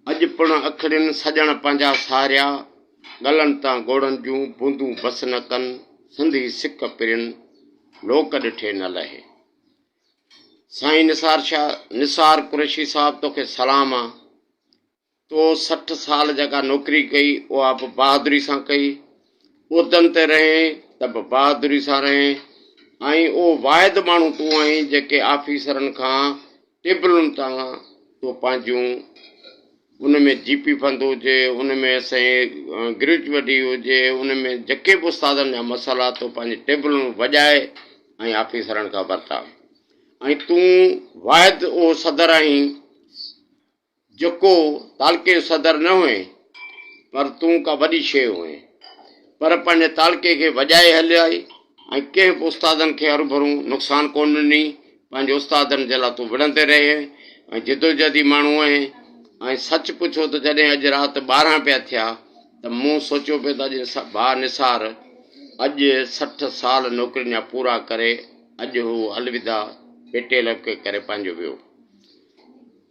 اڄ پڻ اکڙين سڄڻ پنهنجا ساريا، ڳلن تان ڳوڙهن جون بوندون بس نه ڪن، سنڌي سڪ پرين، لوڪ ڏٺي نه لهي. سائين نثار شاهه نثار قريشي صاحب توکي سلام آ. تو سٺ سال جيڪا نوڪري ڪئي، اها به بهادري سان ڪئي. عهدن تي رهين ته به بهادري سان رهين ۽ اهو واحد ماڻهو تون آهين جيڪي آفيسرن کان ٽيبلن تان تو پنهنجون ان ۾ جي پي فند هجي، ان ۾ سائين گريجوئٽي هجي، ان ۾ جيڪي به استادن جا مسئلا تو پنهنجي ٽيبلن وڄائي ۽ آفيسرن کان ورتا ۽ تون واحد اهو صدر آهين، جڪو تعلقي جو صدر نه هئين، پر تون ڪا وڏي شيء هئين. پر پنهنجي تعلقي کي وڄائي هليائي ۽ ڪنهن به استادن کي هروڀرون نقصان ڪونه ڏني. پنهنجي استادن جي لاء تون وڙهندي رهين ۽ جدوجهدي ماڻهو هئين ۽ سچ پڇو ته جڏهن اڄ رات ٻارهن پيا ٿيا ته مون سوچيو پيو ته اڄ ڀاء نثار اڄ سٺ سال نوڪرين جا پورا ڪري اڄ هو الوداع پيٽيل ڪري پنهنجو ويو.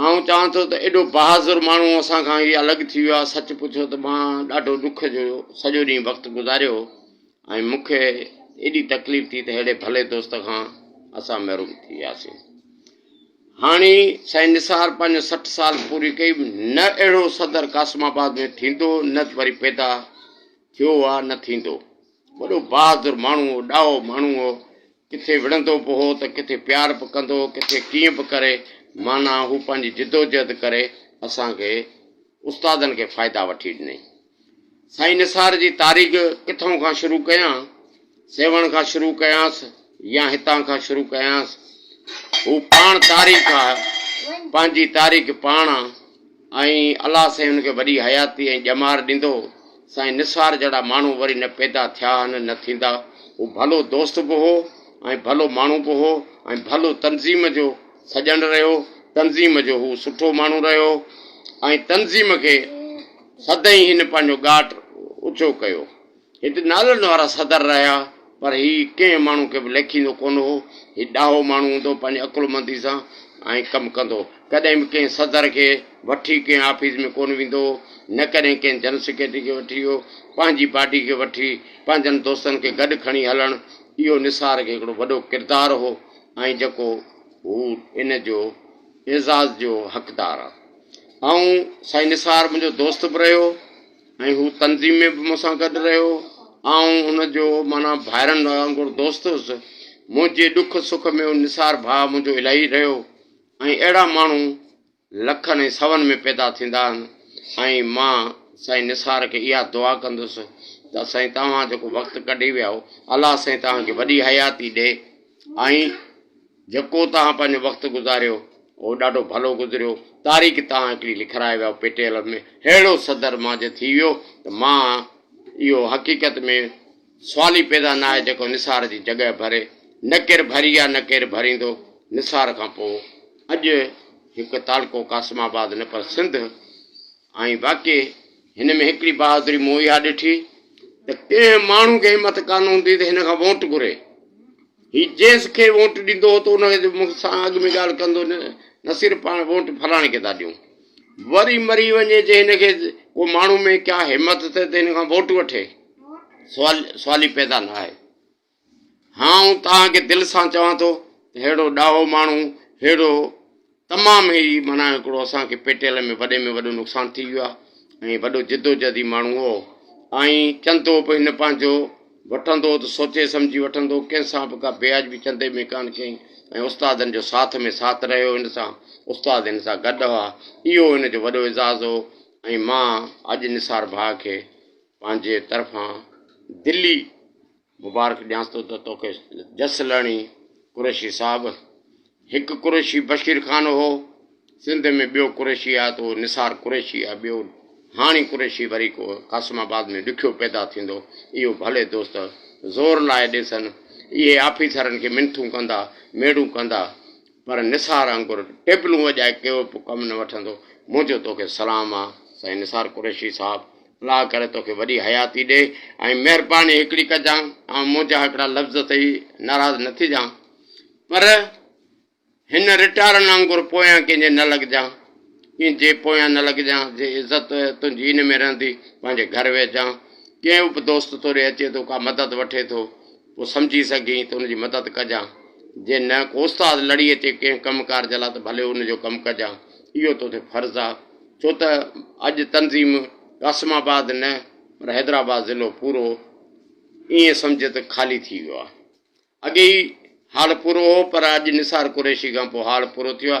آئون چوان ٿو ته ايڏو بهادر ماڻهو اسان کان هي الڳ ٿي ويو آهي، سچ پڇو ته مان ڏاڍو ڏک جو سڄو ڏينهن وقت گذاريو هو ۽ مون کي ايڏي تڪليف ٿي ته ههڙي ڀلي دوست کان اسان محروم ٿي وياسين. هاڻي سائين نثار پنهنجو سٺ سال پوري ڪئي، نه اهڙو صدر قاسم آباد ۾ ٿيندو، نه وري پيدا ٿيو آهي نه ٿيندو. وڏو بهادر ماڻهو هو، ڏاهو ماڻهو هو. ڪٿي وڙهندو به هو ته ڪٿي پيار به ڪندو هو ڪٿي ڪيئن به ڪري معنيٰ هو پنهنجي جدوجهد ڪري اسان کي استادن کي فائدا وٺي ڏنائين. سائين نثار جي تاريخ ڪٿئون کان شروع ڪيان سيوهڻ کان شروع ڪيانس يا هتان کان شروع ڪيانس هو پاڻ تاريخ آ پنهنجي تاريخ پاڻ آ. ۽ الله سائين هن کي وڏي حياتي ۽ ڄمار ڏيندو سائين نثار جهڙا ماڻهو وري نه پيدا ٿيا آهن نه ٿيندا هو ڀلو دوست به هو ۽ ڀلو ماڻهو به هو ۽ ڀلو تنظيم جو سڄڻ رهيو تنظيم جو هو سٺو ماڻهو رهيو ۽ تنظيم کي سدائين هن پنهنجو ڳاٽ اچو ڪيو. هت نالن وارا صدر رهيا، پر هي ڪنهن ماڻهو کي به ليکيندو ڪونه هو. هي ڏاهو ماڻهو هوندو، پنهنجي عقلمندي سان ائين ڪم ڪندو هو. ڪڏهن به ڪنهن صدر کي وٺي ڪنهن آفيس ۾ ڪونه ويندو هو، نه ڪڏهن ڪنهن جنرل سيڪريٽري کي وٺي ويو. پنهنجي باڊي کي وٺي، پنهنجن دوستن کي گڏ کڻي هلڻ، اهو نثار کي هڪڙو وڏو ڪردار هو ۽ جيڪو هو ان جو اعزاز جو حقدار آهي. آئون سائين نثار منهنجو دوست به رهيو. ۽ هو تنظيم ۾ به مون سان گڏ رهيو. آئون ان جو معنيٰ ڀائرن وانگر دوست هوس. منهنجي ڏک سک ۾ هو نثار ڀاء منهنجو الاهي رهيو ۽ اهڙا ماڻهو لکن ۽ سون ۾ پيدا ٿيندا آهن ۽ مان سائين نثار کي اها دعا ڪندس ته سائين توهان جيڪو وقت ڪڍي ويا آهو الله سائين توهان کي وڏي حياتي ڏي ۽ جيڪو توهان پنهنجو وقت گذاريو اهو ڏاڍو ڀلو گذريو. تاريخ توهان هڪڙي لکرائي ويا پي ٽي ايل ۾ ههڙو صدر مانجهه ٿي ويو ته مان اهو حقيقت ۾ سوال ئي پيدا ناهي جيڪو نثار جي جڳهه ڀري نه ڪير ڀري آ نه ڪير ڀريندو نثار کان پوء اڄ هڪ تعلقو قاسم آباد نه پر سنڌ ۽ باقي هن ۾ هڪڙي بهادري مون اها ڏٺي ته ڪنهن ماڻهو کي همت ڪانه هوندي ته هن کان ووٽ گهري. هي جنهن کي ووٽ ڏيندو هو ته ان کي مون سان اڳ ۾ ڳالهه ڪندو نه نه صرف پاڻ ووٽ فلاڻي کي ٿا ڏيون وري مري وڃي جي هن کي ڪو ماڻهو ۾ ڪيا همت ٿئي ته هن کان ووٽ وٺي سوال سوال ئي پيدا نه آهي هان آئون توهان کي دل سان چوان ٿو ههڙو ڏاهو ماڻهو ههڙو تمام هي معنيٰ هڪڙو اسان کي پيٽيل ۾ وڏي ۾ وڏو نقصان ٿي ويو آهي ۽ وڏو جدوجهدي ماڻهو هو آئين چندو به هن پنهنجو وٺندو ته سوچي سمجهي وٺندو ڪنهن سان به ڪا بياجبي چندي ۾ ڪانه ڪئي ۽ استادن جو ساٿ ۾ ساٿ رهيو هن سان استاد هن سان گڏ هئا اهو هن جو وڏو اعزاز هو ۽ مان اڄ نثار ڀاء کي پنهنجي طرفان دلي مبارڪ ڏيانس ٿو ته توکي جس لهڻي قريشي صاحب. هڪ قريشي بشير خان هو. سنڌ ۾ ٻيو قريشي آهي ته اهو نثار قريشي آهي. ٻيو هاڻي قريشي وري ڪو قاسم آباد ۾ ڏکيو پيدا ٿيندو. اهو ڀلي دوست زور لائي ڏيسن. اهي آفيسرن کي منٿون ڪندا، ميڙون ڪندا. پر نثار آنگر ٽيبلون وڄائي ڪيو به ڪم نه وٺندو. منهنجو توکي سلام آ سائين نثار قريشي صاحب الله ڪري توکي وڏي حياتي ڏي ۽ مهرباني هڪڙي ڪجان آئون منهنجا هڪڙا لفظ اٿئي ناراض نه ٿجان پر هن رٽارن آنگر پويان ڪنهن جي نه لڳجان ڪنهن جي پويان نه لڳجان جي عزت تنهنجي ان ۾ رهندي پنهنجي گهر ويهجان ڪنهن به دوست توڏي اچي ٿو ڪا مدد وٺي ٿو ڪو سمجهي سگهين ته ان جي مدد ڪجان، جي نه ڪو استاد لڙي اچي ڪنهن ڪم ڪار جي لاء ته ڀلي ان جو ڪم ڪجان، اهو تو تي فرض آ، ڇو ته اڄ تنظيم قاسم آباد نه پر حيدرآباد ضلعو پورو ائين سمجهه ته خالي ٿي ويو آ، اڳي ئي هاڙ پورو هو پر اڄ نثار قريشي کان پوء هاڙ پورو ٿيو آ،